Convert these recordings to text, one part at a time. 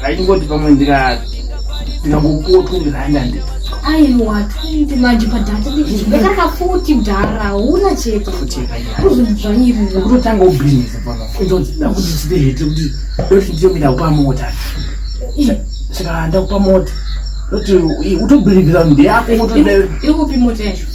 Ndaingoti pamwe ndika ndingangopuwa twendi rand ande. Aiwa twendi manje padhata ndikaka futi mdhara huna chete. Futi yakaita. Kuzvanyirira. Kutotanga ubusiness pano. Kuzoti ndakuti chite hete kuti ndoti ndiyo mina kupa mota. Saka ndakupa mota. Ndoti utobhilivira mbi yako mota. Ikupi mota yacho?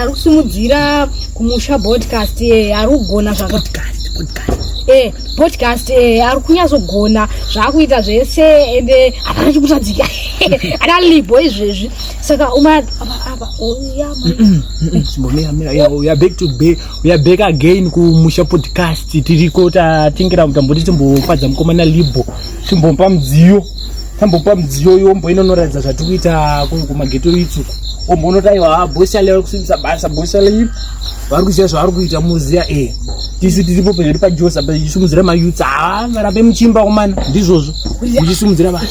ari kusimudzira kumusha podcast eh, ari kugona zvapodcast eh, eh, ari kunyatsogona zvaakuita zvese ende hapana chikutadzika ana libho izvezvi saka umaabaaback again kumusha podcast tiriko tatingira kuti tamboti timbofadza mukomana libho timbompa mudziyo tambopa mudziyo uyu omboenda unoratidza zvatiri kuita kumageto itsuku omboonoti aiwa ah, bosale vari kusimbisa basa bosale iri vari kuziva zvavari kuita muziya e eh, tisu tiripo pezviri pajosa pachisumudzira mayuts a ah, varambe muchimba kumana ndizvozvo muchisumudzira vanhu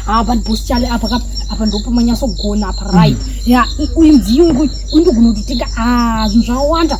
apa bosale apa ka apa ndopo manyasogona apa right ya uyu mudziyo uyu undigona kutotenga ah, zvinhu zvawanda